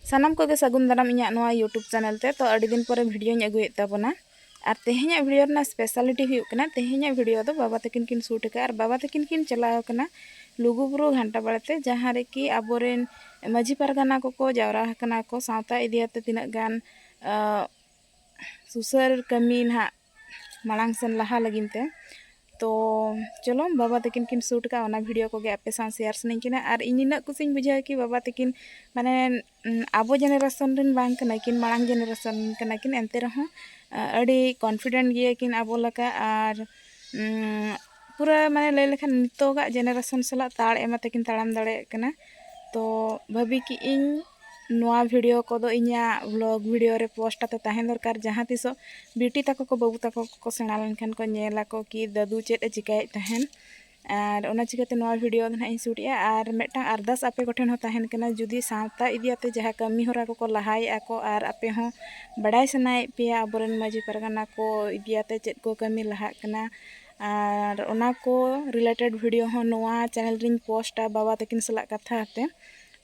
ᱥᱟᱱᱟᱢ ᱠᱚᱜᱮ ᱥᱟᱹᱜᱩᱱ ᱫᱟᱨᱟᱢ ᱤᱧᱟᱹᱜ ᱱᱚᱣᱟ ᱭᱩᱴᱩᱵᱽ ᱪᱮᱱᱮᱞ ᱛᱮ ᱛᱚ ᱟᱹᱰᱤ ᱫᱤᱱ ᱯᱚᱨᱮ ᱵᱷᱤᱰᱤᱭᱳᱧ ᱟᱹᱜᱩᱭᱮᱫ ᱛᱟᱵᱚᱱᱟ ᱟᱨ ᱛᱮᱦᱮᱧᱟᱜ ᱵᱷᱤᱰᱤᱭᱳ ᱨᱮᱱᱟᱜ ᱥᱯᱮᱥᱟᱞᱤᱴᱤ ᱦᱩᱭᱩᱜ ᱠᱟᱱᱟ ᱛᱮᱦᱮᱧᱟᱜ ᱵᱷᱤᱰᱤᱭᱳ ᱫᱚ ᱵᱟᱵᱟ ᱛᱟᱹᱠᱤᱱ ᱠᱤᱱ ᱥᱩᱴ ᱟᱠᱟᱫᱼᱟ ᱟᱨ ᱵᱟᱵᱟ ᱛᱟᱹᱠᱤᱱ ᱠᱤᱱ ᱪᱟᱞᱟᱣ ᱟᱠᱟᱱᱟ ᱞᱩᱜᱩᱵᱩᱨᱩ ᱜᱷᱟᱱᱴᱟ ᱵᱟᱲᱮ ᱛᱮ ᱡᱟᱦᱟᱸ ᱨᱮᱠᱤ ᱟᱵᱚᱨᱮᱱ ᱢᱟᱹᱡᱷᱤ ᱯᱟᱨᱜᱟᱱᱟ ᱠᱚᱠᱚ ᱡᱟᱣᱨᱟ ᱟᱠᱟᱱᱟ ᱠᱚ ᱥᱟᱶᱛᱟ ᱤᱫᱤᱭᱟᱛᱮ ᱛᱤᱱᱟᱹᱜ ᱜᱟᱱ ᱥᱩᱥᱟᱹᱨ ᱠᱟᱹᱢᱤ ᱱᱟᱦᱟᱜ ᱢᱟᱲᱟᱝ ᱥᱮᱱ ᱞᱟᱦᱟ ᱞᱟᱹᱜᱤᱫ ᱛᱮ ᱛᱚ ᱪᱚᱞᱚ ᱵᱟᱵᱟ ᱛᱟᱹᱠᱤᱱ ᱠᱤᱱ ᱥᱩᱴ ᱠᱟᱜᱼᱟ ᱚᱱᱟ ᱵᱷᱤᱰᱤᱭᱳ ᱠᱚᱜᱮ ᱟᱯᱮ ᱥᱟᱶ ᱥᱮᱭᱟᱨ ᱥᱟᱱᱟᱧ ᱠᱟᱱᱟ ᱟᱨ ᱤᱧ ᱱᱤᱱᱟᱹᱜ ᱠᱩᱥᱤᱧ ᱵᱩᱡᱷᱟᱹᱣᱟ ᱠᱤ ᱵᱟᱵᱟ ᱛᱟᱹᱠᱤᱱ ᱢᱟᱱᱮ ᱟᱵᱚ ᱡᱮᱱᱟᱨᱮᱥᱚᱱ ᱨᱮᱱ ᱵᱟᱝ ᱠᱟᱱᱟ ᱠᱤᱱ ᱢᱟᱲᱟᱝ ᱡᱮᱱᱟᱨᱮᱥᱚᱱ ᱠᱟᱱᱟ ᱠᱤᱱ ᱮᱱᱛᱮ ᱨᱮᱦᱚᱸ ᱟᱹᱰᱤ ᱠᱚᱱᱯᱷᱤᱰᱮᱱᱴ ᱜᱮᱭᱟ ᱠᱤᱱ ᱟᱵᱚ ᱞᱮᱠᱟ ᱟᱨ ᱯᱩᱨᱟᱹ ᱢᱟᱱᱮ ᱞᱟᱹᱭ ᱞᱮᱠᱷᱟᱱ ᱱᱤᱛᱚᱜᱟᱜ ᱡᱮᱱᱟᱨᱮᱥᱚᱱ ᱥᱟᱞᱟᱜ ᱛᱟᱲ ᱮᱢ ᱠᱟᱛᱮ ᱠᱤᱱ ᱛᱟᱲᱟᱢ ᱫᱟᱲᱮᱭᱟᱜ ᱠᱟᱱᱟ ᱛᱚ ᱵᱷᱟᱹᱵᱤ ᱠᱮᱜ ᱟᱹᱧ ᱱᱚᱣᱟ ᱵᱷᱤᱰᱤᱭᱳ ᱠᱚᱫᱚ ᱤᱧᱟᱹᱜ ᱵᱷᱞᱚᱜᱽ ᱵᱷᱤᱰᱤᱭᱳ ᱨᱮ ᱯᱳᱥᱴ ᱠᱟᱛᱮᱫ ᱛᱟᱦᱮᱸ ᱫᱚᱨᱠᱟᱨ ᱡᱟᱦᱟᱸ ᱛᱤᱥᱚᱜ ᱵᱤᱴᱤ ᱛᱟᱠᱚ ᱠᱚ ᱵᱟᱹᱵᱩ ᱛᱟᱠᱚ ᱠᱚ ᱥᱮᱬᱟ ᱞᱮᱱᱠᱷᱟᱱ ᱠᱚ ᱧᱮᱞ ᱟᱠᱚ ᱠᱤ ᱫᱟᱹᱫᱩ ᱪᱮᱫ ᱮ ᱪᱤᱠᱟᱹᱭᱮᱫ ᱛᱟᱦᱮᱱ ᱟᱨ ᱚᱱᱟ ᱪᱤᱠᱟᱹᱛᱮ ᱱᱚᱣᱟ ᱵᱷᱤᱰᱤᱭᱳ ᱫᱚ ᱱᱟᱦᱟᱜ ᱤᱧ ᱥᱩᱴᱮᱜᱼᱟ ᱟᱨ ᱢᱤᱫᱴᱟᱝ ᱟᱨᱫᱟᱥ ᱟᱯᱮ ᱠᱚᱴᱷᱮᱱ ᱦᱚᱸ ᱛᱟᱦᱮᱱ ᱠᱟᱱᱟ ᱡᱩᱫᱤ ᱥᱟᱶᱛᱟ ᱤᱫᱤ ᱠᱟᱛᱮᱫ ᱡᱟᱦᱟᱸ ᱠᱟᱹᱢᱤ ᱦᱚᱨᱟ ᱠᱚᱠᱚ ᱞᱟᱦᱟᱭᱮᱫᱼᱟ ᱠᱚ ᱟᱨ ᱟᱯᱮ ᱦᱚᱸ ᱵᱟᱰᱟᱭ ᱥᱟᱱᱟᱭᱮᱫ ᱯᱮᱭᱟ ᱟᱵᱚᱨᱮᱱ ᱢᱟᱺᱡᱷᱤ ᱯᱟᱨᱜᱟᱱᱟ ᱠᱚ ᱤᱫᱤ ᱠᱟᱛᱮᱫ ᱪᱮᱫ ᱠᱚ ᱠᱟᱹᱢᱤ ᱞᱟᱦᱟᱜ ᱠᱟᱱᱟ ᱟᱨ ᱚᱱᱟ ᱠᱚ ᱨᱤᱞᱮᱴᱮᱰ ᱵᱷᱤᱰᱤᱭᱳ ᱦᱚᱸ ᱱᱚᱣᱟ ᱪᱮᱱᱮᱞ ᱨᱮᱧ ᱯᱳᱥᱴᱟ ᱵᱟᱵᱟ ᱛᱟᱹᱠᱤᱱ ᱥᱟᱞᱟᱜ ᱠᱟᱛᱷᱟ ᱠᱟᱛᱮᱫ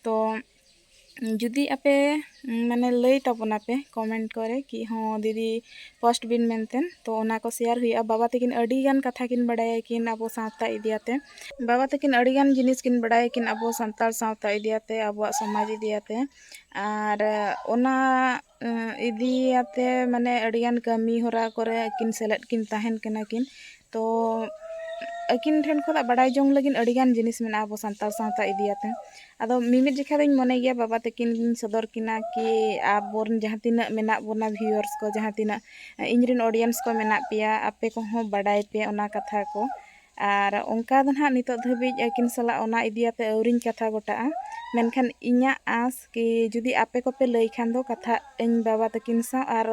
ᱛᱚ ᱡᱩᱫᱤ ᱟᱯᱮ ᱢᱟᱱᱮ ᱞᱟᱹᱭ ᱛᱟᱵᱚᱱᱟᱯᱮ ᱠᱚᱢᱮᱱᱴ ᱠᱚᱨᱮ ᱠᱤ ᱦᱚᱸ ᱫᱤᱫᱤ ᱯᱳᱥᱴ ᱵᱤᱱ ᱢᱮᱱᱛᱮ ᱛᱚ ᱚᱱᱟ ᱠᱚ ᱥᱮᱭᱟᱨ ᱦᱩᱭᱩᱜᱼᱟ ᱵᱟᱵᱟ ᱛᱟᱹᱠᱤᱱ ᱟᱹᱰᱤ ᱜᱟᱱ ᱠᱟᱛᱷᱟ ᱠᱤᱱ ᱵᱟᱲᱟᱭᱟ ᱠᱤᱱ ᱟᱵᱚ ᱥᱟᱶᱛᱟ ᱤᱫᱤᱭᱟᱛᱮ ᱵᱟᱵᱟ ᱛᱟᱹᱠᱤᱱ ᱟᱹᱰᱤ ᱜᱟᱱ ᱡᱤᱱᱤᱥ ᱠᱤᱱ ᱵᱟᱲᱟᱭᱟ ᱠᱤᱱ ᱟᱵᱚ ᱥᱟᱱᱛᱟᱲ ᱥᱟᱶᱛᱟ ᱤᱫᱤᱭᱟᱛᱮ ᱟᱵᱚᱣᱟᱜ ᱥᱚᱢᱟᱡᱽ ᱤᱫᱤᱭᱟᱛᱮ ᱟᱨ ᱚᱱᱟ ᱤᱫᱤᱭᱟᱛᱮ ᱢᱟᱱᱮ ᱟᱹᱰᱤ ᱜᱟᱱ ᱠᱟᱹᱢᱤ ᱦᱚᱨᱟ ᱠᱚᱨᱮ ᱟᱹᱠᱤᱱ ᱥᱮᱞᱮᱫ ᱠᱤᱱ ᱛᱟᱦᱮᱱ ᱠᱟᱱᱟ ᱠᱤᱱ ᱛᱚ ᱟᱹᱠᱤᱱ ᱴᱷᱮᱱ ᱠᱷᱚᱱᱟᱜ ᱵᱟᱰᱟᱭ ᱡᱚᱝ ᱞᱟᱹᱜᱤᱫ ᱟᱹᱰᱤ ᱜᱟᱱ ᱡᱤᱱᱤᱥ ᱢᱮᱱᱟᱜᱼᱟ ᱟᱵᱚ ᱥᱟᱱᱛᱟᱲ ᱥᱟᱶᱛᱟ ᱤᱫᱤᱭᱟᱛᱮ ᱟᱫᱚ ᱢᱤᱢᱤᱫ ᱡᱚᱠᱷᱟᱡ ᱫᱚᱧ ᱢᱚᱱᱮ ᱜᱮᱭᱟ ᱵᱟᱵᱟ ᱛᱟᱹᱠᱤᱱ ᱜᱤᱧ ᱥᱚᱫᱚᱨ ᱠᱤᱱᱟ ᱠᱤ ᱟᱵᱚ ᱨᱮᱱ ᱡᱟᱦᱟᱸ ᱛᱤᱱᱟᱹᱜ ᱢᱮᱱᱟᱜ ᱵᱚᱱᱟ ᱵᱷᱤᱭᱩᱣᱟᱨᱥ ᱠᱚ ᱡᱟᱦᱟᱸ ᱛᱤᱱᱟᱹᱜ ᱤᱧ ᱨᱮᱱ ᱚᱰᱤᱭᱮᱱᱥ ᱠᱚ ᱢᱮᱱᱟᱜ ᱯᱮᱭᱟ ᱟᱯᱮ ᱠᱚᱦᱚᱸ ᱵᱟᱰᱟᱭ ᱯᱮ ᱚᱱᱟ ᱠᱟᱛᱷᱟ ᱠᱚ ᱟᱨ ᱚᱱᱠᱟ ᱫᱚ ᱱᱟᱦᱟᱜ ᱱᱤᱛᱳᱜ ᱫᱷᱟᱹᱵᱤᱡ ᱟᱹᱠᱤᱱ ᱥᱟᱞᱟᱜ ᱚᱱᱟ ᱤᱫᱤ ᱠᱟᱛᱮᱫ ᱟᱹᱣᱨᱤᱧ ᱠᱟᱛᱷᱟ ᱜᱚᱴᱟᱜᱼᱟ ᱢᱮᱱᱠᱷᱟᱱ ᱤᱧᱟᱹᱜ ᱟᱥ ᱠᱤ ᱡᱩᱫᱤ ᱟᱯᱮ ᱠᱚᱯᱮ ᱞᱟᱹᱭ ᱠᱷᱟᱱ ᱫᱚ ᱠᱟᱛᱷᱟᱜ ᱟᱹᱧ ᱵᱟᱵᱟ ᱛᱟᱹᱠᱤᱱ ᱥᱟᱶ ᱟᱨ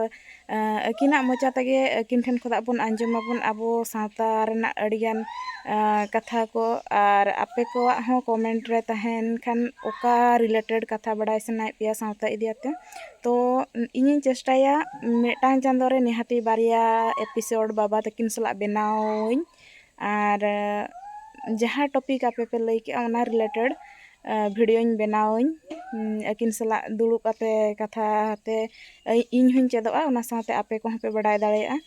ᱟᱹᱠᱤᱱᱟᱜ ᱢᱚᱪᱟ ᱛᱮᱜᱮ ᱟᱹᱠᱤᱱ ᱴᱷᱮᱱ ᱠᱷᱚᱱᱟᱜ ᱵᱚᱱ ᱟᱸᱡᱚᱢ ᱟᱵᱚᱱ ᱟᱵᱚ ᱥᱟᱶᱛᱟ ᱨᱮᱱᱟᱜ ᱟᱹᱰᱤ ᱜᱟᱱ ᱠᱟᱛᱷᱟ ᱠᱚ ᱟᱨ ᱟᱯᱮ ᱠᱚᱣᱟᱜ ᱦᱚᱸ ᱠᱚᱢᱮᱱᱴ ᱨᱮ ᱛᱟᱦᱮᱱ ᱠᱷᱟᱱ ᱚᱠᱟ ᱨᱤᱞᱮᱴᱮᱰ ᱠᱟᱛᱷᱟ ᱵᱟᱰᱟᱭ ᱥᱟᱱᱟᱭᱮᱫ ᱯᱮᱭᱟ ᱥᱟᱶᱛᱟ ᱤᱫᱤ ᱠᱟᱛᱮᱫ ᱛᱚ ᱤᱧᱤᱧ ᱪᱮᱥᱴᱟᱭᱟ ᱢᱤᱫᱴᱟᱝ ᱪᱟᱸᱫᱚ ᱨᱮ ᱱᱤᱦᱟᱹᱛᱤ ᱵᱟᱨᱭᱟ ᱮᱯᱤᱥᱳᱰ ᱵᱟᱵᱟ ᱛᱟᱹᱠᱤᱱ ᱥᱟᱞᱟᱜ ᱵᱮᱱᱟᱣᱟᱹᱧ ᱟᱨ ᱡᱟᱦᱟᱸ ᱴᱚᱯᱤᱠ ᱟᱯᱮ ᱯᱮ ᱞᱟᱹᱭ ᱠᱮᱜᱼᱟ ᱚᱱᱟ ᱨᱤᱞᱮᱴᱮᱰ ᱵᱷᱤᱰᱭᱳᱧ ᱵᱮᱱᱟᱣᱟᱹᱧ ᱟᱹᱠᱤᱱ ᱥᱟᱞᱟᱜ ᱫᱩᱲᱩᱵ ᱠᱟᱛᱮ ᱠᱟᱛᱷᱟ ᱛᱮ ᱤᱧ ᱦᱚᱸᱧ ᱪᱮᱫᱚᱜᱼᱟ ᱚᱱᱟ ᱥᱟᱶᱛᱮ ᱟᱯᱮ ᱠᱚᱦᱚᱸ ᱯᱮ ᱵᱟᱰᱟᱭ ᱫᱟᱲᱮᱭᱟᱜᱼᱟ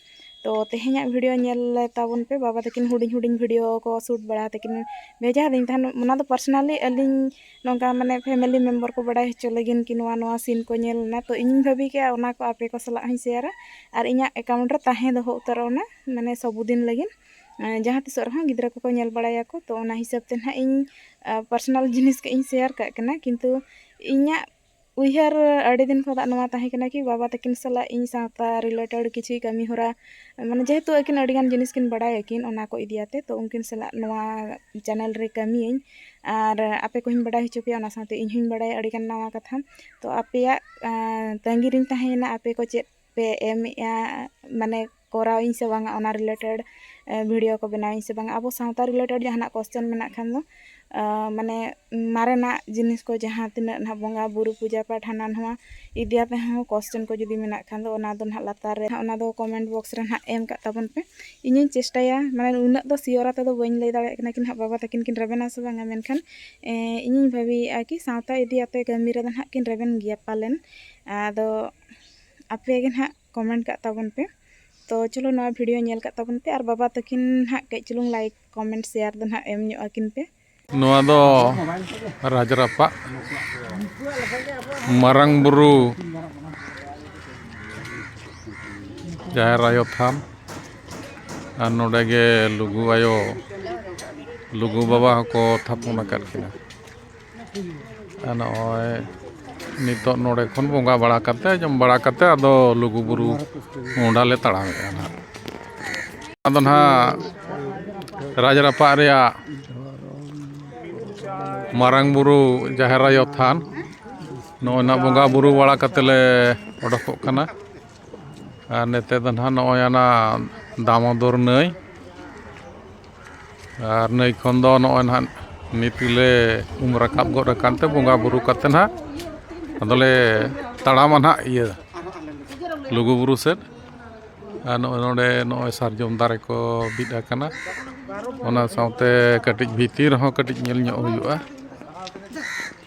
ᱛᱚ ᱛᱮᱦᱮᱧᱟᱜ ᱵᱷᱤᱰᱭᱳ ᱧᱮᱞ ᱞᱮ ᱛᱟᱵᱚᱱ ᱯᱮ ᱵᱟᱵᱟ ᱛᱟᱹᱠᱤᱱ ᱦᱩᱰᱤᱧ ᱦᱩᱰᱤᱧ ᱵᱷᱤᱰᱭᱳ ᱠᱚ ᱥᱩᱴ ᱵᱟᱲᱟ ᱠᱟᱛᱮ ᱠᱤᱱ ᱵᱷᱮᱡᱟ ᱟᱹᱫᱤᱧ ᱛᱟᱦᱮᱱ ᱚᱱᱟ ᱫᱚ ᱯᱟᱨᱥᱚᱱᱟᱞᱤ ᱟᱹᱞᱤᱧ ᱱᱚᱝᱠᱟ ᱢᱟᱱᱮ ᱯᱷᱮᱢᱮᱞᱤ ᱢᱮᱢᱵᱚᱨ ᱠᱚ ᱵᱟᱰᱟᱭ ᱦᱚᱪᱚ ᱞᱟᱹᱜᱤᱫ ᱠᱤ ᱱᱚᱣᱟ ᱱᱚᱣᱟ ᱥᱤᱱ ᱠᱚ ᱧᱮᱞ ᱞᱮᱱᱟ ᱛᱚ ᱤᱧ ᱵᱷᱟᱹᱵᱤ ᱠᱮᱜᱼᱟ ᱚᱱᱟ ᱠᱚ ᱟᱯᱮ ᱠᱚ ᱥᱟᱞᱟᱜ ᱦᱚᱸᱧ ᱥᱮᱭᱟᱨᱟ ᱟᱨ ᱤᱧᱟᱹᱜ ᱮᱠᱟᱣᱩᱱᱴ ᱨᱮ ᱛᱟᱦᱮᱸ ᱫᱚᱦᱚ ᱩᱛᱟᱹᱨᱚᱜ ᱚᱱᱟ ᱢᱟᱱᱮ ᱥᱚᱵ ᱫᱤᱱ ᱞᱟᱹᱜᱤᱫ ᱡᱟᱦᱟᱸ ᱛᱤᱥᱚᱜ ᱨᱮᱦᱚᱸ ᱜᱤᱫᱽᱨᱟᱹ ᱠᱚᱠᱚ ᱧᱮᱞ ᱵᱟᱲᱟᱭᱟᱠᱚ ᱛᱚ ᱚᱱᱟ ᱦᱤᱥᱟᱹᱵ ᱛᱮ ᱱᱟᱦᱟᱜ ᱤᱧ ᱯᱟᱨᱥᱚᱱᱟᱞ ᱡᱤᱱᱤᱥ ᱠᱟᱹᱡ ᱤᱧ ᱥᱮᱭᱟᱨ ᱠᱟᱜ ᱠᱟᱱᱟ ᱠᱤᱱᱛᱩ ᱤᱧᱟᱹᱜ ᱩᱭᱦᱟᱹᱨ ᱟᱹᱰᱤ ᱫᱤᱱ ᱠᱷᱚᱱᱟᱜ ᱱᱚᱣᱟ ᱛᱟᱦᱮᱸ ᱠᱟᱱᱟ ᱠᱤ ᱵᱟᱵᱟ ᱛᱟᱹᱠᱤᱱ ᱥᱟᱞᱟᱜ ᱤᱧ ᱥᱟᱶᱛᱟ ᱨᱤᱞᱮᱴᱮᱰ ᱠᱤᱪᱷᱩ ᱠᱟᱹᱢᱤ ᱦᱚᱨᱟ ᱢᱟᱱᱮ ᱡᱮᱦᱮᱛᱩ ᱟᱹᱠᱤᱱ ᱟᱹᱰᱤ ᱜᱟᱱ ᱡᱤᱱᱤᱥ ᱠᱤᱱ ᱵᱟᱲᱟᱭ ᱟᱹᱠᱤᱱ ᱚᱱᱟ ᱠᱚ ᱤᱫᱤ ᱠᱟᱛᱮᱫ ᱛᱚ ᱩᱱᱠᱤᱱ ᱥᱟᱞᱟᱜ ᱱᱚᱣᱟ ᱪᱮᱱᱮᱞ ᱨᱮ ᱠᱟᱹᱢᱤᱭᱟᱹᱧ ᱟᱨ ᱟᱯᱮ ᱠᱚᱦᱚᱧ ᱵᱟᱰᱟᱭ ᱦᱚᱪᱚ ᱯᱮᱭᱟ ᱚᱱᱟ ᱥᱟᱶᱛᱮ ᱤᱧ ᱦᱚᱧ ᱵᱟᱲᱟᱭᱟ ᱟᱹᱰᱤ ᱜᱟᱱ ᱱᱟᱣᱟ ᱠᱟᱛᱷᱟ ᱛᱚ ᱟᱯᱮᱭᱟᱜ ᱛᱟᱺᱜᱤ ᱨᱤᱧ ᱛᱟᱦᱮᱸᱭᱮᱱᱟ ᱟᱯᱮ ᱠᱚ ᱪᱮᱫ ᱯᱮ ᱮᱢᱮᱜᱼᱟ ᱢᱟᱱᱮ ᱠᱚᱨᱟᱣ ᱟᱹᱧ ᱥᱮ ᱵᱟᱝᱟ ᱚᱱᱟ ᱨᱤᱞᱮᱴᱮᱰ ᱵᱷᱤᱰᱤᱭᱳ ᱠᱚ ᱵᱮᱱᱟᱣ ᱟᱹᱧ ᱥᱮ ᱵᱟᱝᱟ ᱟᱵᱚ ᱥᱟᱶᱛᱟ ᱨᱤᱞᱮᱴᱮᱰ ᱡᱟᱦᱟᱱᱟᱜ ᱠᱚᱥᱪᱟᱱ ᱢᱮᱱᱟᱜ ᱠᱷᱟᱱ ᱫᱚ ᱢᱟᱱᱮ ᱢᱟᱨᱮᱱᱟᱜ ᱡᱤᱱᱤᱥ ᱠᱚ ᱡᱟᱦᱟᱸ ᱛᱤᱱᱟᱹᱜ ᱱᱟᱜ ᱵᱚᱸᱜᱟ ᱵᱩᱨᱩ ᱯᱩᱡᱟᱹ ᱯᱟᱴ ᱦᱟᱱᱟ ᱱᱚᱣᱟ ᱤᱫᱤ ᱠᱟᱛᱮᱫ ᱦᱚᱸ ᱠᱚᱥᱪᱟᱱ ᱠᱚ ᱡᱩᱫᱤ ᱢᱮᱱᱟᱜ ᱠᱷᱟᱱ ᱫᱚ ᱚᱱᱟ ᱫᱚ ᱱᱟᱜ ᱞᱟᱛᱟᱨ ᱨᱮ ᱚᱱᱟ ᱫᱚ ᱠᱚᱢᱮᱱᱴ ᱵᱚᱠᱥ ᱨᱮ ᱱᱟᱜ ᱮᱢ ᱠᱟᱜ ᱛᱟᱵᱚᱱ ᱯᱮ ᱤᱧᱤᱧ ᱪᱮᱥᱴᱟᱭᱟ ᱢᱟᱱᱮ ᱩᱱᱟᱹᱜ ᱫᱚ ᱥᱤᱭᱳᱨ ᱟᱛᱮᱫ ᱫᱚ ᱵᱟᱹᱧ ᱞᱟᱹᱭ ᱫᱟᱲᱮᱭᱟᱜ ᱠᱟᱱᱟ ᱠᱤ ᱱᱟᱜ ᱵᱟᱵᱟ ᱛᱟᱹᱠᱤᱱ ᱠᱤᱱ ᱨᱮᱵᱮᱱᱟ ᱥᱮ ᱵᱟᱝᱟ ᱢᱮᱱᱠᱷᱟᱱ ᱤᱧᱤᱧ ᱵᱷᱟᱹᱵᱤᱭᱮᱜᱼᱟ ᱠᱤ ᱥᱟᱶᱛᱟ ᱤᱫᱤ ᱠᱟᱛᱮᱫ ᱠᱟᱹᱢᱤ ᱨᱮᱫᱚ ᱱᱟᱜ ᱠᱤᱱ ᱨᱮᱵᱮᱱ ᱜᱮᱭᱟ ᱯᱟᱞᱮᱱ ᱟᱫᱚ ᱟᱯᱮ ᱜᱮ ᱱᱟᱦᱟᱜ ᱠᱚᱢᱮᱱᱴ ᱠᱟᱜ ᱛᱟᱵᱚᱱ ᱯᱮ ᱛᱚ ᱪᱚᱞᱚ ᱱᱚᱣᱟ ᱵᱷᱤᱰᱤᱭᱳ ᱧᱮᱞ ᱠᱟᱜ ᱛᱟᱵᱚᱱ ᱯᱮ ᱟᱨ ᱵᱟᱵᱟ ᱛᱟᱹᱠᱤᱱ ᱱᱟᱦᱟᱜ ᱠᱟᱹᱡ ᱪᱩᱞᱩᱝ ᱞᱟᱭᱤᱠ ᱠᱚᱢᱮᱱᱴ ᱥᱮᱭᱟᱨ ᱫᱚ ᱱᱟᱦᱟᱜ ᱮᱢ ᱧᱚᱜ ᱟᱹᱠᱤᱱ ᱯᱮ ᱱᱚᱣᱟ ᱫᱚ ᱨᱟᱡᱽᱨᱟᱯᱟ ᱢᱟᱨᱟᱝ ᱵᱩᱨᱩ ᱡᱟᱦᱮᱨ ᱟᱭᱳ ᱛᱷᱟᱱ ᱟᱨ ᱱᱚᱰᱮ ᱜᱮ ᱞᱩᱜᱩ ᱟᱭᱳ ᱞᱩᱜᱩ ᱵᱟᱵᱟ ᱦᱚᱸᱠᱚ ᱛᱷᱟᱯᱚᱱ ᱟᱠᱟᱫ ᱠᱤᱱᱟ ᱟᱨ ᱱᱚᱜᱼᱚᱭ ᱱᱤᱛᱚᱜ ᱱᱚᱰᱮ ᱠᱷᱚᱱ ᱵᱚᱸᱜᱟ ᱵᱟᱲᱟ ᱠᱟᱛᱮ ᱡᱚᱢ ᱵᱟᱲᱟ ᱠᱟᱛᱮ ᱟᱫᱚ ᱞᱩᱜᱩᱼᱵᱩᱨᱩ ᱢᱚᱦᱰᱟ ᱞᱮ ᱛᱟᱲᱟᱢᱮᱫᱼᱟ ᱱᱟᱜ ᱟᱫᱚ ᱱᱟᱜ ᱨᱟᱡᱽ ᱨᱟᱯᱟᱜ ᱨᱮᱭᱟᱜ ᱢᱟᱨᱟᱝ ᱵᱩᱨᱩ ᱡᱟᱦᱮᱨ ᱟᱭᱳ ᱛᱷᱟᱱ ᱱᱚᱜᱼᱚᱭ ᱱᱟᱜ ᱵᱚᱸᱜᱟᱼᱵᱩᱨᱩ ᱵᱟᱲᱟ ᱠᱟᱛᱮ ᱞᱮ ᱚᱰᱚᱠᱚᱜ ᱠᱟᱱᱟ ᱟᱨ ᱱᱚᱛᱮ ᱫᱚ ᱱᱟᱜ ᱱᱚᱜᱼᱚᱭ ᱟᱱᱟ ᱫᱟᱢᱳᱫᱚᱨ ᱱᱟᱹᱭ ᱟᱨ ᱱᱟᱹᱭ ᱠᱷᱚᱱ ᱫᱚ ᱱᱚᱜᱼᱚᱭ ᱱᱟᱦᱟᱜ ᱱᱤᱛ ᱜᱮᱞᱮ ᱩᱢ ᱨᱟᱠᱟᱵ ᱜᱚᱫ ᱟᱠᱟᱱ ᱛᱮ ᱵᱚᱸᱜᱟ ᱵᱳᱨᱳ ᱠᱟᱛᱮ ᱱᱟᱦᱟᱜ ᱟᱫᱚᱞᱮ ᱛᱟᱲᱟᱢᱟ ᱱᱟᱦᱟᱜ ᱤᱭᱟᱹ ᱞᱩᱜᱩᱼᱵᱩᱨᱩ ᱥᱮᱫ ᱟᱨ ᱱᱚᱜᱼᱚᱭ ᱱᱚᱰᱮ ᱱᱚᱜᱼᱚᱭ ᱥᱟᱨᱡᱚᱢ ᱫᱟᱨᱮ ᱠᱚ ᱵᱤᱫ ᱟᱠᱟᱱᱟ ᱚᱱᱟ ᱥᱟᱶᱛᱮ ᱠᱟᱹᱴᱤᱡ ᱵᱷᱤᱛᱤᱨ ᱨᱮᱦᱚᱸ ᱠᱟᱹᱴᱤᱡ ᱧᱮᱞ ᱧᱚᱜ ᱦᱩᱭᱩᱜᱼᱟ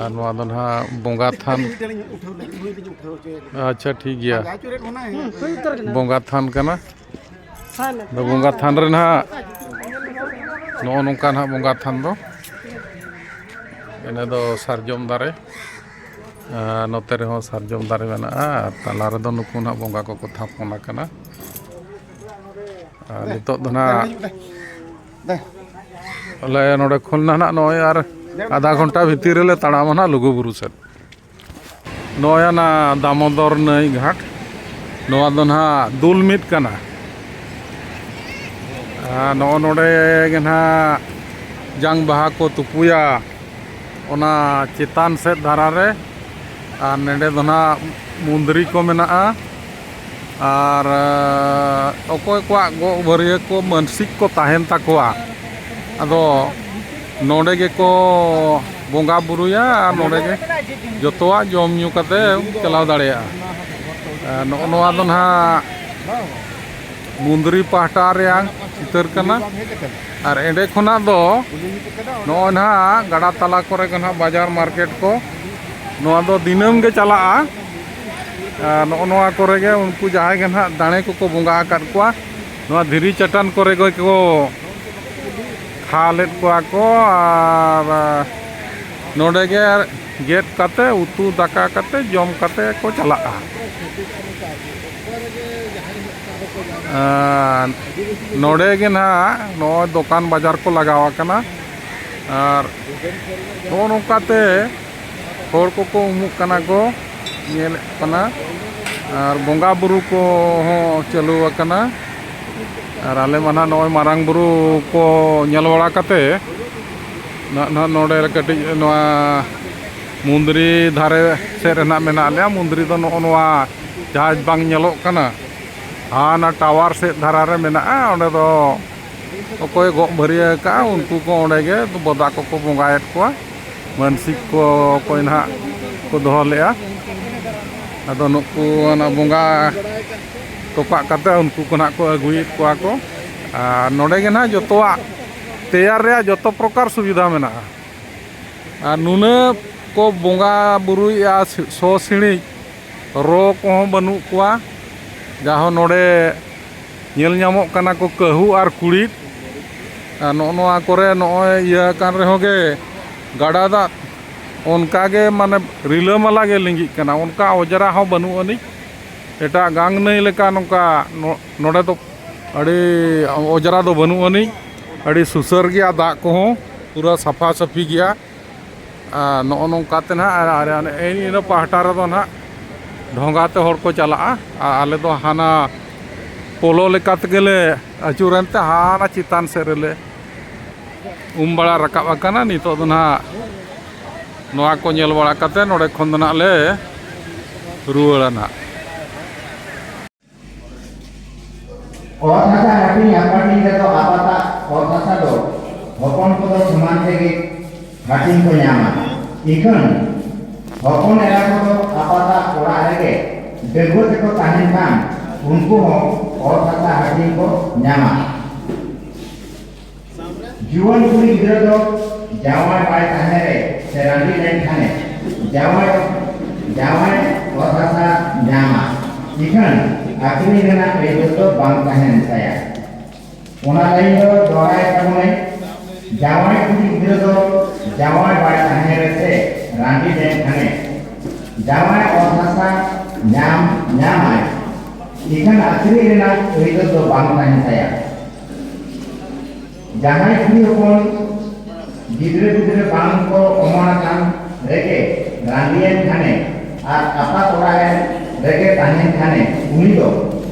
ᱟᱨ ᱱᱚᱣᱟ ᱫᱚ ᱱᱟᱦᱟᱜ ᱵᱚᱸᱜᱟ ᱛᱷᱟᱱ ᱟᱪᱪᱷᱟ ᱴᱷᱤᱠ ᱜᱮᱭᱟ ᱵᱚᱸᱜᱟ ᱛᱷᱟᱱ ᱠᱟᱱᱟ ᱟᱫᱚ ᱵᱚᱸᱜᱟ ᱛᱷᱟᱱ ᱨᱮ ᱱᱟᱦᱟᱜ ᱱᱚᱜᱼᱚ ᱱᱚᱝᱠᱟ ᱱᱟᱦᱟᱜ ᱵᱚᱸᱜᱟ ᱛᱷᱟᱱ ᱫᱚ ᱤᱱᱟᱹ ᱫᱚ ᱥᱟᱨᱡᱚᱢ ᱫᱟᱨᱮ ᱟᱨ ᱱᱚᱛᱮ ᱨᱮᱦᱚᱸ ᱥᱟᱨᱡᱚᱢ ᱫᱟᱨᱮ ᱢᱮᱱᱟᱜᱼᱟ ᱟᱨ ᱛᱟᱞᱟ ᱨᱮᱫᱚ ᱱᱩᱠᱩ ᱱᱟᱦᱟᱜ ᱵᱚᱸᱜᱟ ᱠᱚᱠᱚ ᱛᱷᱟᱯᱚᱱ ᱟᱠᱟᱱᱟ ᱟᱨ ᱱᱤᱛᱚᱜ ᱫᱚ ᱱᱟᱦᱟᱜ ᱟᱞᱮ ᱱᱚᱰᱮ ᱠᱷᱚᱱ ᱱᱟᱦᱟᱜ ᱱᱚᱜᱼᱚᱭ ᱟᱨ ᱟᱫᱷᱟ ᱜᱷᱚᱱᱴᱟ ᱵᱷᱤᱛᱤᱨ ᱨᱮᱞᱮ ᱛᱟᱲᱟᱢᱟ ᱱᱟᱦᱟᱜ ᱞᱩᱜᱩᱵᱩᱨᱩ ᱥᱮᱫ ᱱᱚᱜᱼᱚᱭ ᱚᱱᱟ ᱫᱟᱢᱳᱫᱚᱨ ᱱᱟᱹᱭ ᱜᱷᱟᱴ ᱱᱚᱣᱟ ᱫᱚ ᱱᱟᱦᱟᱜ ᱫᱩᱞ ᱢᱤᱫ ᱠᱟᱱᱟ ᱱᱚᱜᱼᱚ ᱱᱚᱰᱮ ᱜᱮ ᱱᱟᱦᱟᱜ ᱡᱟᱝ ᱵᱟᱦᱟ ᱠᱚ ᱛᱩᱯᱩᱭᱟ ᱚᱱᱟ ᱪᱮᱛᱟᱱ ᱥᱮᱫ ᱫᱷᱟᱨᱟ ᱨᱮ ᱟᱨ ᱱᱚᱰᱮ ᱫᱚ ᱱᱟᱦᱟᱜ ᱢᱩᱸᱫᱽᱨᱤ ᱠᱚ ᱢᱮᱱᱟᱜᱼᱟ ᱟᱨ ᱚᱠᱚᱭ ᱠᱚᱣᱟᱜ ᱜᱚᱜ ᱵᱷᱟᱹᱨᱭᱟᱹ ᱠᱚ ᱢᱟᱹᱱᱥᱤᱠ ᱠᱚ ᱛᱟᱦᱮᱱ ᱛᱟᱠᱚᱣᱟ ᱟᱫᱚ ᱱᱚᱰᱮ ᱜᱮᱠᱚ ᱵᱚᱸᱜᱟ ᱵᱳᱨᱳᱭᱟ ᱟᱨ ᱱᱚᱰᱮ ᱜᱮ ᱡᱚᱛᱚᱣᱟᱜ ᱡᱚᱢ ᱧᱩ ᱠᱟᱛᱮᱫ ᱪᱟᱞᱟᱣ ᱫᱟᱲᱮᱭᱟᱜᱼᱟ ᱟᱨ ᱱᱚᱜᱼᱚ ᱱᱚᱣᱟ ᱫᱚ ᱱᱟᱦᱟᱜ ᱢᱩᱱᱫᱽᱨᱤ ᱯᱟᱦᱴᱟ ᱨᱮᱭᱟᱜ ᱪᱤᱛᱟᱹᱨ ᱠᱟᱱᱟ ᱟᱨ ᱮᱸᱰᱮ ᱠᱷᱚᱱᱟᱜ ᱫᱚ ᱱᱚᱜᱼᱚᱭ ᱱᱟᱦᱟᱜ ᱜᱟᱰᱟ ᱛᱟᱞᱟ ᱠᱚᱨᱮ ᱜᱮ ᱱᱟᱦᱟᱜ ᱵᱟᱡᱟᱨ ᱢᱟᱨᱠᱮᱴ ᱠᱚ ᱱᱚᱣᱟ ᱫᱚ ᱫᱤᱱᱟᱹᱢ ᱜᱮ ᱪᱟᱞᱟᱜᱼᱟ ᱱᱚᱜᱼᱚ ᱱᱚᱣᱟ ᱠᱚᱨᱮ ᱜᱮ ᱩᱱᱠᱩ ᱡᱟᱦᱟᱸᱭ ᱜᱮ ᱱᱟᱦᱟᱜ ᱫᱟᱲᱮ ᱠᱚᱠᱚ ᱵᱚᱸᱜᱟ ᱟᱠᱟᱫ ᱠᱚᱣᱟ ᱱᱚᱣᱟ ᱫᱷᱤᱨᱤ ᱪᱟᱴᱟᱱ ᱠᱚᱨᱮ ᱜᱮ ᱠᱚ ᱠᱷᱟ ᱞᱮᱫ ᱠᱚᱣᱟ ᱠᱚ ᱟᱨ ᱱᱚᱰᱮ ᱜᱮ ᱜᱮᱫ ᱠᱟᱛᱮ ᱩᱛᱩ ᱫᱟᱠᱟ ᱠᱟᱛᱮ ᱡᱚᱢ ᱠᱟᱛᱮ ᱠᱚ ᱪᱟᱞᱟᱜᱼᱟ ᱱᱚᱰᱮ ᱜᱮ ᱱᱟᱦᱟᱜ ᱱᱚᱜᱼᱚᱭ ᱫᱚᱠᱟᱱ ᱵᱟᱡᱟᱨ ᱠᱚ ᱞᱟᱜᱟᱣ ᱟᱠᱟᱱᱟ ᱟᱨ ᱱᱚᱜᱼᱚ ᱱᱚᱝᱠᱟᱛᱮ ᱦᱚᱲ ᱠᱚᱠᱚ ᱩᱢᱩᱜ ᱠᱟᱱᱟ ᱠᱚ ᱧᱮᱞᱮᱫ ᱠᱚ ᱠᱟᱱᱟ ᱟᱨ ᱵᱚᱸᱜᱟ ᱵᱩᱨᱩ ᱠᱚᱦᱚᱸ ᱪᱟᱹᱞᱩ ᱟᱠᱟᱱᱟ ᱟᱨ ᱟᱞᱮ ᱢᱟ ᱱᱟᱦᱟᱜ ᱱᱚᱜᱼᱚᱭ ᱢᱟᱨᱟᱝ ᱵᱩᱨᱩ ᱠᱚ ᱧᱮᱞ ᱵᱟᱲᱟ ᱠᱟᱛᱮᱫ ᱱᱟᱜ ᱱᱟᱦᱟᱜ ᱱᱚᱰᱮ ᱠᱟᱹᱴᱤᱡ ᱱᱚᱣᱟ ᱢᱩᱱᱫᱽᱨᱤ ᱫᱷᱟᱨᱮ ᱥᱮᱫ ᱨᱮ ᱱᱟᱦᱟᱜ ᱢᱮᱱᱟᱜ ᱞᱮᱭᱟ ᱢᱩᱱᱫᱽᱨᱤ ᱫᱚ ᱱᱚᱜᱼᱚ ᱱᱚᱣᱟ ᱡᱟᱦᱟᱸ ᱵᱟᱝ ᱧᱮᱞᱚᱜ ᱠᱟᱱᱟ ᱦᱟᱱᱟ ᱴᱟᱣᱟᱨ ᱥᱮᱫ ᱫᱷᱟᱨᱟ ᱨᱮ ᱢᱮᱱᱟᱜᱼᱟ ᱚᱸᱰᱮ ᱫᱚ ᱚᱠᱚᱭ ᱜᱚᱜ ᱵᱷᱟᱹᱨᱭᱟᱹ ᱟᱠᱟᱫᱼᱟ ᱩᱱᱠᱩ ᱠᱚ ᱚᱸᱰᱮ ᱜᱮ ᱵᱚᱫᱟ ᱠᱚᱠᱚ ᱵᱚᱸᱜᱟᱭᱮᱫ ᱠᱚᱣᱟ ᱢᱟᱹᱱᱥᱤᱠ ᱠᱚ ᱚᱠᱚᱭ ᱱᱟᱦᱟᱜ ᱠᱚ ᱫᱚᱦᱚ ᱞᱮᱫᱼᱟ ᱟᱫᱚ ᱱᱩᱠᱩ ᱚᱱᱟ ᱵᱚᱸᱜᱟ ᱛᱚᱯᱟᱜ ᱠᱟᱛᱮ ᱩᱱᱠᱩ ᱠᱚ ᱱᱟᱦᱟᱜ ᱠᱚ ᱟᱹᱜᱩᱭᱮᱫ ᱠᱚᱣᱟ ᱠᱚ ᱟᱨ ᱱᱚᱰᱮ ᱜᱮ ᱱᱟᱦᱟᱜ ᱡᱚᱛᱚᱣᱟᱜ ᱛᱮᱭᱟᱨ ᱨᱮᱭᱟᱜ ᱡᱚᱛᱚ ᱯᱨᱚᱠᱟᱨ ᱥᱩᱵᱤᱫᱷᱟ ᱢᱮᱱᱟᱜᱼᱟ ᱟᱨ ᱱᱩᱱᱟᱹᱜ ᱠᱚ ᱵᱚᱸᱜᱟ ᱵᱩᱨᱩᱭᱮᱫᱼᱟ ᱥᱚ ᱥᱤᱬᱤᱡ ᱨᱚ ᱠᱚᱦᱚᱸ ᱵᱟᱹᱱᱩᱜ ᱠᱚᱣᱟ ᱡᱟᱦᱳ ᱱᱚᱰᱮ ᱧᱮᱞ ᱧᱟᱢᱚᱜ ᱠᱟᱱᱟ ᱠᱚ ᱠᱟᱹᱦᱩ ᱟᱨ ᱠᱩᱲᱤᱫ ᱟᱨ ᱱᱚᱜᱼᱚ ᱱᱚᱣᱟ ᱠᱚᱨᱮ ᱱᱚᱜᱼᱚᱭ ᱤᱭᱟᱹ ᱟᱠᱟᱱ ᱨᱮᱦᱚᱸ ᱜᱮ ᱜᱟᱰᱟ ᱫᱟᱜ ᱚᱱᱠᱟ ᱜᱮ ᱢᱟᱱᱮ ᱨᱤᱞᱟᱹᱢᱟᱞᱟ ᱜᱮ ᱞᱤᱸᱜᱤᱜ ᱠᱟᱱᱟ ᱚᱱᱠᱟ ᱚᱸᱡᱽᱨᱟ ᱦᱚᱸ ᱵᱟᱹᱱᱩᱜ ᱟᱹᱱᱤᱡ ᱮᱴᱟᱜ ᱜᱟᱝ ᱱᱟᱹᱭ ᱞᱮᱠᱟ ᱱᱚᱝᱠᱟ ᱱᱚᱰᱮ ᱫᱚ ᱟᱹᱰᱤ ᱚᱸᱡᱽᱨᱟ ᱫᱚ ᱵᱟᱹᱱᱩᱜ ᱟᱹᱱᱤᱡ ᱟᱹᱰᱤ ᱥᱩᱥᱟᱹᱨ ᱜᱮᱭᱟ ᱫᱟᱜ ᱠᱚᱦᱚᱸ ᱯᱩᱨᱟᱹ ᱥᱟᱯᱷᱟ ᱥᱟᱹᱯᱷᱤ ᱜᱮᱭᱟ ᱟᱨ ᱱᱚᱜᱼᱚ ᱱᱚᱝᱠᱟ ᱛᱮ ᱱᱟᱦᱟᱜ ᱟᱨ ᱤᱱᱟᱹ ᱯᱟᱦᱴᱟ ᱨᱮᱫᱚ ᱱᱟᱦᱟᱜ ᱰᱷᱚᱸᱜᱟ ᱛᱮ ᱦᱚᱲ ᱠᱚ ᱪᱟᱞᱟᱜᱼᱟ ᱟᱨ ᱟᱞᱮ ᱫᱚ ᱦᱟᱱᱟ ᱯᱳᱞᱳ ᱞᱮᱠᱟ ᱛᱮᱜᱮ ᱞᱮ ᱟᱹᱪᱩᱨᱮᱱ ᱛᱮ ᱦᱟᱱᱟ ᱪᱮᱛᱟᱱ ᱥᱮᱫ ᱨᱮᱞᱮ ᱩᱢ ᱵᱟᱲᱟ ᱨᱟᱠᱟᱵ ᱟᱠᱟᱱᱟ ᱱᱤᱛᱚᱜ ᱫᱚ ᱱᱟᱦᱟᱜ ᱱᱚᱣᱟ ᱠᱚ ᱧᱮᱞ ᱵᱟᱲᱟ ᱠᱟᱛᱮᱫ ᱱᱚᱰᱮ ᱠᱷᱚᱱ ᱫᱚ ᱱᱟᱦᱟᱜ ᱞᱮ ᱨᱩᱣᱟᱹᱲᱟ ᱱᱟᱦᱟᱜ ᱚᱛ ᱦᱟᱥᱟ ᱦᱟᱹᱴᱤᱧ ᱟᱯᱟᱴᱤᱧ ᱨᱮᱫᱚ ᱟᱯᱟᱛᱟᱜ ᱚᱛ ᱦᱟᱥᱟ ᱫᱚ ᱦᱚᱯᱚᱱ ᱠᱚᱫᱚ ᱥᱚᱢᱟᱱ ᱛᱮᱜᱮ ᱦᱟᱹᱴᱤᱧ ᱠᱚ ᱧᱟᱢᱟ ᱤᱠᱷᱟᱹᱱ ᱦᱚᱯᱚᱱ ᱮᱨᱟ ᱠᱚᱫᱚ ᱟᱯᱟᱛᱟᱜ ᱚᱲᱟᱜ ᱨᱮᱜᱮ ᱰᱟᱹᱜᱩᱣᱟᱹ ᱛᱮᱠᱚ ᱛᱟᱦᱮᱱ ᱠᱷᱟᱱ ᱩᱱᱠᱩ ᱦᱚᱸ ᱚᱛ ᱦᱟᱥᱟ ᱦᱟᱹᱴᱤᱧ ᱠᱚ ᱧᱟᱢᱟ ᱡᱩᱣᱟᱹᱱ ᱠᱩᱲᱤ ᱜᱤᱫᱽᱨᱟᱹ ᱫᱚ ᱡᱟᱶᱟᱭ ᱵᱟᱭ ᱛᱟᱦᱮᱸ ᱨᱮ ᱥᱮ ᱨᱟᱺᱰᱤ ᱞᱮᱱᱠᱷᱟᱱᱮ ᱡᱟᱶᱟᱭ ᱡᱟᱶᱟᱭ ᱚᱛ ᱦᱟᱥᱟ ᱧᱟᱢᱟ ᱤᱠᱷᱟᱹᱱ ᱟᱹᱠᱷᱨᱤᱧ ᱨᱮᱱᱟᱜ ᱟᱹᱭᱫᱟᱹᱨ ᱫᱚ ᱵᱟᱝ ᱛᱟᱦᱮᱱ ᱛᱟᱭᱟ ᱚᱱᱟ ᱞᱟᱹᱭᱤᱱ ᱫᱚ ᱫᱚᱦᱲᱟᱭ ᱛᱟᱵᱚᱱᱟᱭ ᱡᱟᱶᱟᱭ ᱠᱩᱲᱤ ᱜᱤᱫᱽᱨᱟᱹ ᱫᱚ ᱡᱟᱶᱟᱭ ᱵᱟᱭ ᱛᱟᱦᱮᱸ ᱨᱮ ᱥᱮ ᱨᱟᱺᱰᱤ ᱞᱮᱱᱠᱷᱟᱱᱮ ᱡᱟᱶᱟᱭ ᱚᱛ ᱦᱟᱥᱟ ᱧᱟᱢ ᱧᱟᱢᱟᱭ ᱤᱠᱷᱟᱹᱱ ᱟᱹᱠᱷᱨᱤᱧ ᱨᱮᱱᱟᱜ ᱟᱹᱭᱫᱟᱹᱨ ᱫᱚ ᱵᱟᱝ ᱛᱟᱦᱮᱱ ᱛᱟᱭᱟ ᱡᱟᱦᱟᱸᱭ ᱠᱩᱲᱤ ᱦᱚᱯᱚᱱ ᱜᱤᱫᱽᱨᱟᱹ ᱯᱤᱫᱽᱨᱟᱹ ᱵᱟᱝ ᱠᱚ ᱚᱢᱚᱱ ᱟᱠᱟᱱ ᱨᱮᱜᱮ ᱨᱟᱺᱰᱤᱭᱮᱱ ᱠᱷᱟᱱᱮ ᱟᱨ ᱟᱯᱟᱛ ᱚᱲᱟᱜ ᱮᱱ ᱨᱮᱜᱮ ᱛᱟᱦᱮᱱ ᱠᱷᱟᱱᱮ ᱩᱱᱤ ᱫᱚ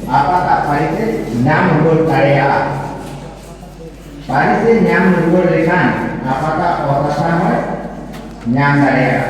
ᱟᱯᱟᱛᱟᱜ ᱯᱟᱹᱨᱤᱥ ᱮ ᱧᱟᱢ ᱨᱩᱣᱟᱹᱲ ᱫᱟᱲᱮᱭᱟᱜᱼᱟ ᱯᱟᱹᱨᱤᱥ ᱮ ᱧᱟᱢ ᱨᱩᱣᱟᱹᱲ ᱞᱮᱠᱷᱟᱱ ᱟᱯᱟᱛᱟᱜ ᱚᱛ ᱦᱟᱥᱟ ᱦᱚᱸᱭ ᱧᱟᱢ ᱫᱟᱲᱮᱭᱟᱜᱼᱟ